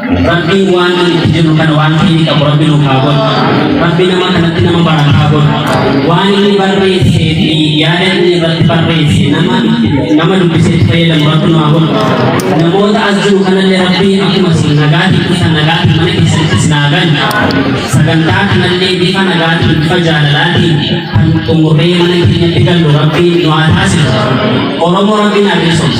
Rabbiin waan ani itti jirru kana waan keenya qabu rabbi nuuf haa godhu. Rabbi nama kanatti nama baratu haa godhu. Waan inni barreessee fi yaada inni irratti barreesse nama itti- nama dubbisetti fayyadamu rabbi nu haa godhu. Namoota as jiru kanallee rabbiin akkuma isin nagaatiin dhuftan nagaatiin mana keessatti isin haa galu. Sagantaa kanallee bifa nagaatiin bifa jaalalaatiin kan xumurree mana keenyatti gallu rabbiin nu haa taasisu. Oromoo rabbiin haa bilisoomsu.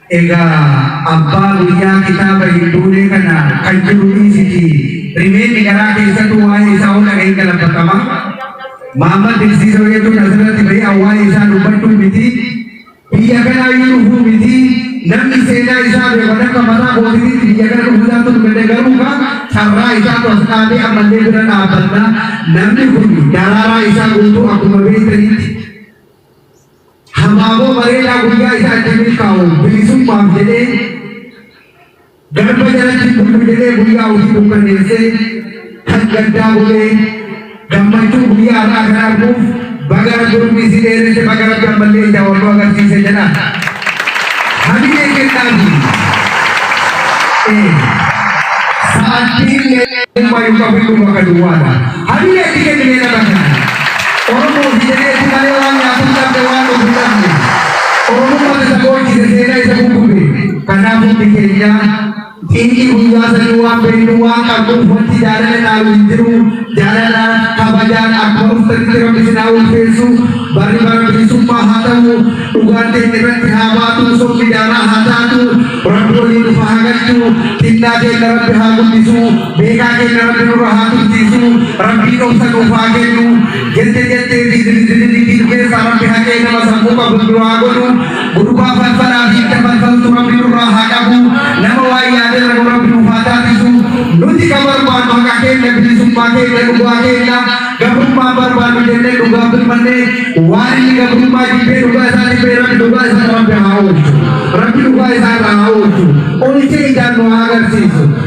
Egaa abbaa biyyaa kitaaba hin duunee kana kan jiru dhiisitii rimeeni garaa keessatu waa'ee isaa hoo dhaga'in galafatama? Maammal Dinsiisoo jechuun asirratti ba'ee an waa'ee isaa dubbadhuu miti. Biyya kanaa iyyuu dhufuu miti. Namni seenaa isaa beeku kan akka mataa kootitiitti biyya kana dhufuu isaatu nu gade garuu kaa carraa isaatu as dhaabee ammallee bira dhaabbanna. Namni kun daraaraa isaa guutuu akkuma beektanitti Habaaboo bareedaa guyyaa isaa itti milkaa'u bilisummaaf jedhee garba jalatti hin bullu jedhee guyyaa ofii dukkaneessee kan gaddaa bulee gammachuu guyyaa har'aa kan arguuf bagara durbi isii dheeresse bagara gammallee ija walloo agarsiise jedha. Hamilee kennaafi. Sa'aatiin ilmaa hin qabu ilma kan duwwaadha. Hayyee itti kennine nama kana. Oromoo fi jedheeti malee waan nyaatu hin qabne waan dhufu hin dhabne. Oromummaan isa boochise seenaa isa guggube. Kanaaf hundi keenya xiiqii guyyaa sanii waan beeknu waan qabnuuf wanti jaalala dhaalu hin jiru. Jaalalaan kabajaan akkuma dhuftanitti rabbi isin haa ulfeessu. Barri bara bilisummaa haa ta'u. Dhugaan keenya irratti haa baatu. Sobni daaraa haa taatu. Rabbi waliin nuuf haa galchu. Xinnaa keenya rabbi haa guddisu. Beekaa keenya rabbi nurra haa tursiisu rabbiin obsa nuuf haa kennu jette jettee fi zilizililitiin keessaa rabbi haqee nama sammuu qabu nu haa godhu gurbaa falfalaa fi itti falfaltu rabbi nurraa haa qabu nama waa yaadee rabu rabbi nuuf haa taasisu nuti ka barbaannu haqa keenya bilisummaa keenya dhugaa keenya gabrummaa barbaannu jennee dhugaa birmannee waan inni gabrummaa jibbee dhugaa isaa jibbee rabbi dhugaa isaa rabbi haa oolchu rabbi dhugaa isaa irraa haa oolchu oolchee ijaan nu haa agarsiisu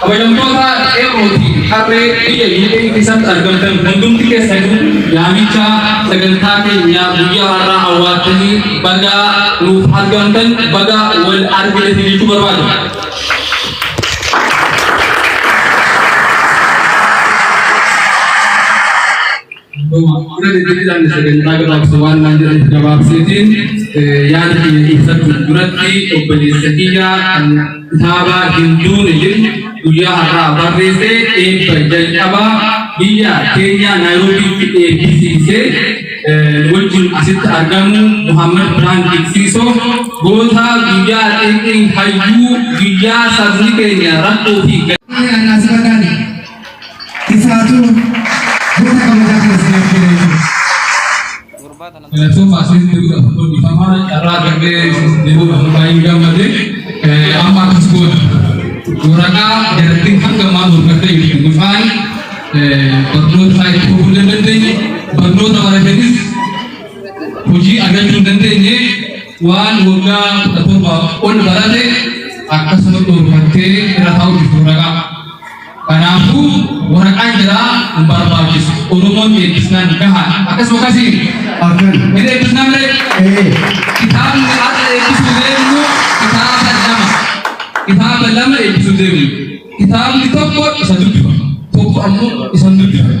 Kabajamtoota qeerroo fi qarree biyya UK keessatti argamtan hundumti keessanii yaamicha sagantaa keenya guyyaa har'aa hawwaattanii baga nuuf argamtan baga wal argitan jechuu barbaadu. Kana deddeebiidhaan sagantaa gabaabsa waan naan jedhan gabaabseetiin yaada keenya ibsachuuf duratti obboleessa kiyya kan kitaaba hin duune jedhu guyyaa har'aa barreesse eebba jalqabaa biyya keenyaa naayiroobiitti eebbisiise wajjin asitti argamu Muhammad Birhaan Dinqisiisoo goota guyyaa xiqqii hayyuu guyyaa sabni keenya rakkoo fi Ani anaa si barbaade. Isaatu goota kabajaa kana siniif kenneetu. Galatooma asiin deemuudha tokko dhiifama carraa argannee deemuudha tokko baay'ee gammade amma akkas goona. Waraqaa jarattiin hanga maal hojjatee jirti gufaan barnoota isaa itti fufuu hin dandeenye barnoota baratanis hojii argachuu hin dandeenye waan waggaa kudha torbaaf ol barate akkasuma dhorkattee irra taa'uuf waraqaa. Kanaafuu waraqaan jiraa hin barbaachisu. Oromoon eebbisnaan gahaadha. Akkasuma akkasii Akkan. hin eebbisnaan malee Ee. kitaabni har'a eebbisuu deemnu kitaaba lama. Kitaaba lama eebbisuu deemnu. Kitaabni tokko isa dubbifama. Tokko ammoo isa hin dubbifama.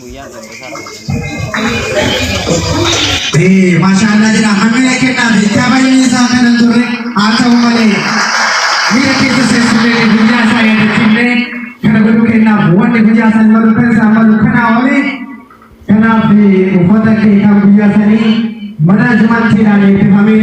Guyyaan Sanbataa Ramadanii. Maashaallah jedha hammina kennaa fi kabajni isaa kan hin turre haa ta'u malee miira keessa seensifnee guyyaa isaa yaadachiifnee kana godhu kennaaf wanni guyyaa san malu kan isaa malu kanaa oole kanaaf uffata kee kan guyyaa sanii mana jumaatti ilaalee bifamee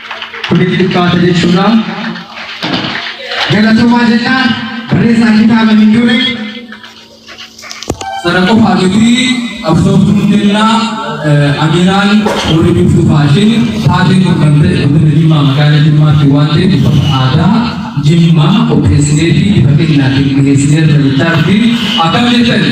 Kuni xiqqaata jechuudha. Galatoomaa jennaan barreessaa kitaaba hin dure sana qofaa miti qabsooftuu hundellaa amiraan warri biftuu faashin taatee kun kan ta'e godina Jimmaa magaalaa Jimmaatti waan ta'eef uffata aadaa Jimmaa qopheessinee fi bifa kennaatiin dhiyeessinee irra jechaatti akkam jettani?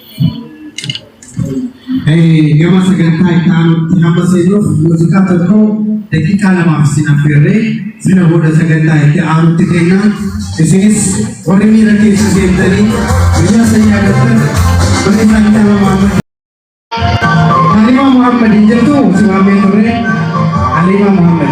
Gama sagantaa itti aanutti hamma seenuuf muuziqaa tokko daqiiqaa lamaaf isin affeerree sana booda sagantaa itti aanutti keenya. Isinis warri miira keessa seentanii guyyaa sana yaadattan mana isaa kitaaba Muhammad. Halima Muhammad hin jirtu si waamee turre. Halima Muhammad.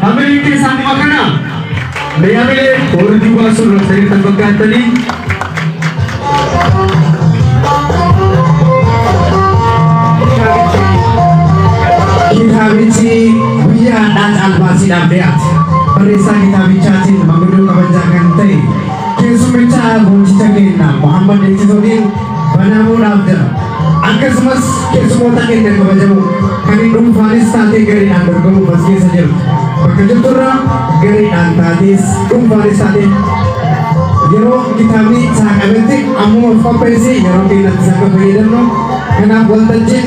Hamilee keessaa nima kana mee hamilee warri duubaa sun raftanii kan fakkaattanii kitaabichi guyyaa hadhaa caalbaasiidhaaf dhiyaate barreessaa kitaabichaatiin maguddoo kabajaa kan ta'e keessummicha goonjicha keenya Muhammad Eegsitooniin banamuu dhaabdara. Akkasumas keessumoota keenya kabajamoo kan hin dhuunfaanis taatee gareedhaan dorgomuuf as keessa jiru. Bakka jirturraa gareedhaan taatees dhuunfaanis taatee yeroo kitaabni saaqametti ammuma of qopheessi yeroo keenyatti saqa fayyadamnu kanaaf waltajjiin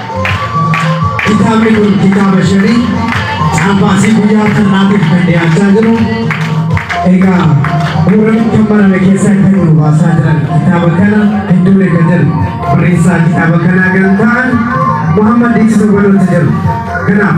Kitaabni kun kitaaba shanii caafaasii guyyaa har'aatiif kan dhiyaachaa jiru. Egaa gurra kan barame keessaa kan nu baasaa jiran kitaaba kana hedduun eega jiru. Barreessaa kitaaba kanaa kan ta'an Muhammad Diiksuu Balootti jiru. Kanaaf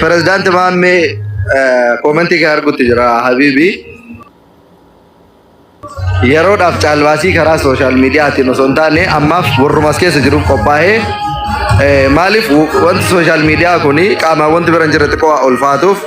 Pirezidaanti eh, Maammee eh, koomentii kee argutti jira Habiibi. Yeroodhaaf caalbaasii karaa sooshaal miidiyaatiin osoo hin taane ammaaf warrumas keessa jiruuf qophaa'ee eh, maaliif wanti sooshaal miidiyaa kun qaamaan wanti bira hin jirre xiqqoo ulfaatuuf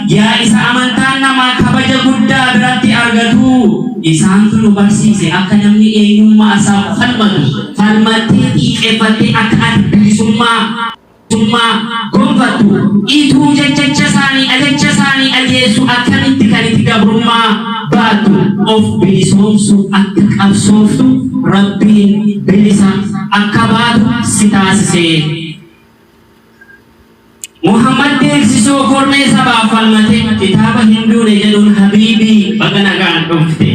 Yaa isa amantaan namaa kabaja guddaa biratti argatuu! Isaantu nu barsiise akka namni eenyummaa isaaf falmatu falmattee xiiqeffattee akka ati bilisummaa gonfattu ituu jechacha isaanii ajacha isaanii ajeessu akkamitti kan iti gabrummaa baattu of bilisoomsuuf akka qabsooftu Rabbiin bilisa akka baatu si taasisee. Muhammad deemsisoo kormee sabaaf falmatee kitaaba hinduune jedhuun habiibii baga nagaan dhufte.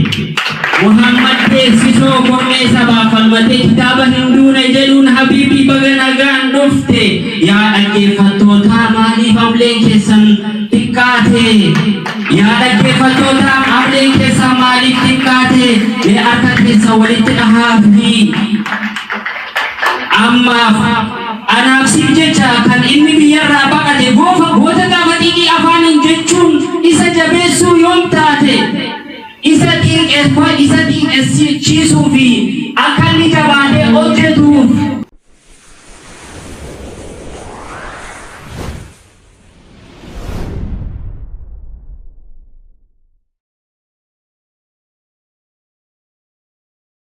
Muhammad deemsisoo kormee sabaaf falmatee kitaaba hinduune jedhuun habiibii baga nagaan dhufte. Yaa dhaggeeffattootaa maaliif amleen keessan xiqqaate? Yaa dhaggeeffattootaa amleen keessan maaliif xiqqaate? Mee harka keessa walitti dhahaa fi Ammaaf anaaf siif jecha kan inni biyyarraa baqate goofa goota gaafa xiiqii afaaniin jechuun isa jabeessuu yoom taate isa xiinqeeffa isa xiinqessichiisuu fi akka inni jabaatee hojjetuuf